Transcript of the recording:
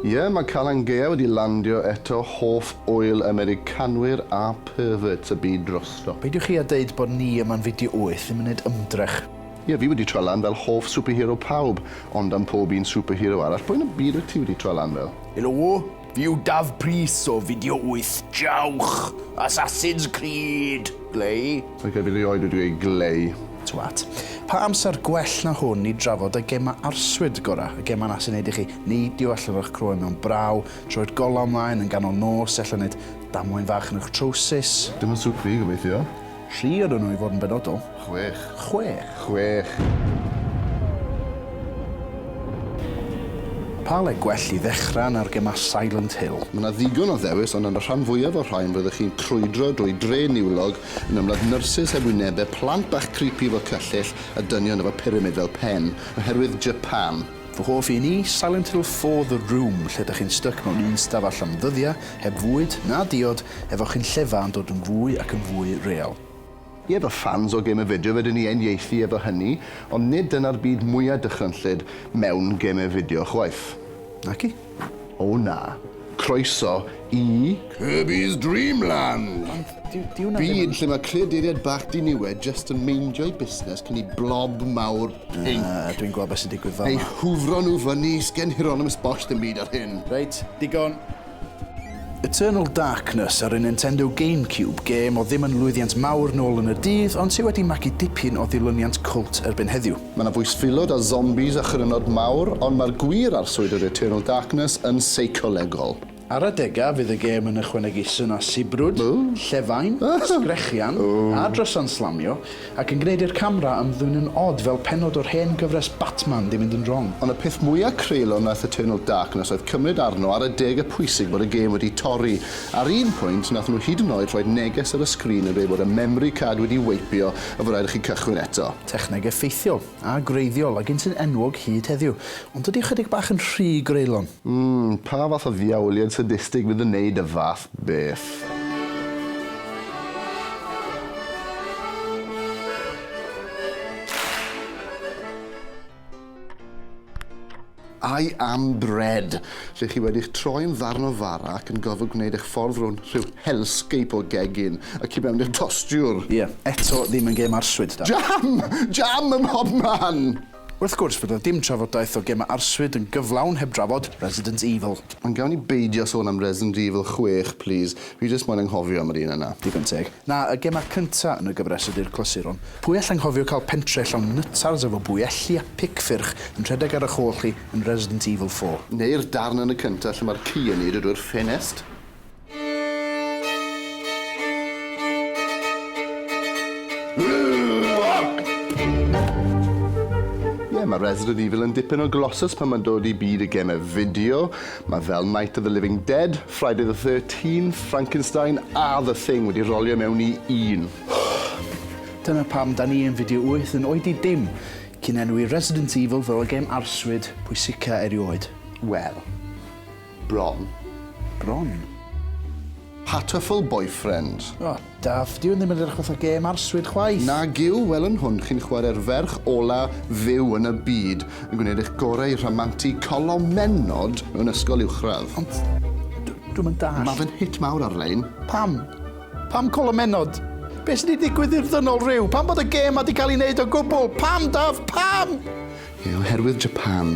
Ie, mae Calan Gaea wedi landio eto, hoff ŵyl Americanwyr a perverts y byd drosto. Peidiwch chi a deud bod ni yma'n fideo wyth ddim yn neud ymdrech. Ie, fi wedi troi lan fel hoff superhero pawb, ond am pob un superhero arall, pwy yn y byd wyt ti wedi troi lan fel? Helo! You daf pris o fideo wyth jawch! Assassin's Creed! Glei? Ac erbyn rioed wedi gweud glei. Twat. Pa amser gwell na hwn i drafod y gema arswyd gora, y gema na sy'n neud i chi neidio allan o'ch croen mewn braw, troi'r golau ymlaen yn ganol nos, ella neud damwain fach yn y'ch trowsus. Dim yn sŵt fi, gobeithio. Tri ydyn nhw i fod yn benodol. Chwech. Chwech. Chwech. Pa le gwell i ddechrau na'r gemau Silent Hill? Mae 'na ddigon o ddewis, ond yn y rhan fwyaf o'r rhain rydych chi'n crwydro drwy dre niwlog yn ymladd nyrsys heb wynebau, plant bach creepy efo cyllyll, a dynion efo pyramid fel pen, oherwydd Japan. Fy hoff un i, Silent Hill four The Room, lle dych chi'n styc mewn un stafell am ddyddiau, heb fwyd, na diod, efo chi'n llefa yn dod yn fwy ac yn fwy real. Ie, fy ffans o Game of Fideo, fedrwn ni uniaethu efo hynny, ond nid dyna'r byd mwya' dychrynllyd mewn Game of Fideo chwaith. Naci. O na. Croeso i Kirby's Dream Land! Ond dyw hwnna ddim yn... Byd lle mae creaduriaid bach diniwed jyst yn meindio'u busnes cyn i blob mawr pinc... Na, dwi'n gweld beth sy'n digwydd fama... eu hwfro nhw fyny, sgen Hieronymus Bosch ddim byd ar hyn. Reit, digon. Eternal Darkness ar y Nintendo GameCube, gêm oedd ddim yn lwyddiant mawr nôl yn y dydd, ond sy' wedi magu dipyn o ddilyniant cwlt erbyn heddiw. Mae 'na fwystfilod a zombies a chrynod mawr, ond mae'r gwir arswyd yr Eternal Darkness yn seicolegol. Ar adegau, fydd y gêm yn ychwanegu synau sibrwd, llefain, sgrechian, a drysau'n slamio, Ac yn gwneud i'r camera ymddwynnu'n od fel pennod o'r hen gyfres Batman ddim mynd yn wrong. Ond y peth mwya creulon nath Eternal Darkness oedd cymryd arno ar adega pwysig bod y gêm wedi torri. Ar un pwynt nathon nhw hyd yn oed rhoid neges ar y sgrin yn dweud bod y memory card wedi weipio a fod rhaid i chi cychwyn eto. Techneg effeithiol. a gwreiddiol, a gynti'n enwog hyd heddiw. Ond dydy ychydig bach yn rhy greulon. Mm, pa fath o ddiawliad sadistig fydd yn neud y fath beth? I am bread! lle chi wedi'ch troi'n ddarn o fara ac yn gorfod gwneud eich ffordd rownd rhyw hellscape o gegin y tu mewn i'r tostiwr! Ie, eto ddim yn gêm arswyd, Dad. Jam! Jam ym mhob man! Wrth gwrs bod 'na dim trafodaeth o gemau arswyd yn gyflawn heb drafod Resident Evil. Ond gawn ni beidio sôn am Resident Evil chwech, plîs. Fi jyst moyn anghofio am yr un yna. Digon teg. Na, y gemau cynta yn y gyfres ydy'r clasuron. Pwy all anghofio cael pentre llawn nytars efo bwyelli a pic ffyrch yn rhedeg ar ych ôl chi yn Resident Evil four? Neu'r darn yn y cynta lle mae'r ci yn eiddo drwy'r ffenest? Ie, mae Resident Evil yn dipyn o glossus pan mae'n dod i byd y gemau fideo. Mae fel Night of the Living Dead, Friday the Thirteenth, Frankenstein a The Thing wedi rolio mewn i un. Dyna pam da ni yn Fideo Wyth yn oed i dim cyn enwi Resident Evil fel y gêm arswyd pwysica erioed. Wel. Bron. Bron? Hatoful Boyfriend. O! Daf, dyw hwn ddim yn edrych fatha gêm arswyd chwaith! Nag yw, wel yn hwn chi'n chwarae'r ferch ola fyw yn y byd, yn gwneud eich gorau i rhamantu colomennod mewn ysgol uwchradd. Ond, d- dwi'm yn dallt. Ma' fe'n hit mawr ar-lein. Pam? Pam colomennod? Be' sy' 'di digwydd i'r ddynol ryw? Pam bod y gêm 'ma 'di cael ei wneud o gwbl? Pam, Daf, pam? Ie, oherwydd Japan.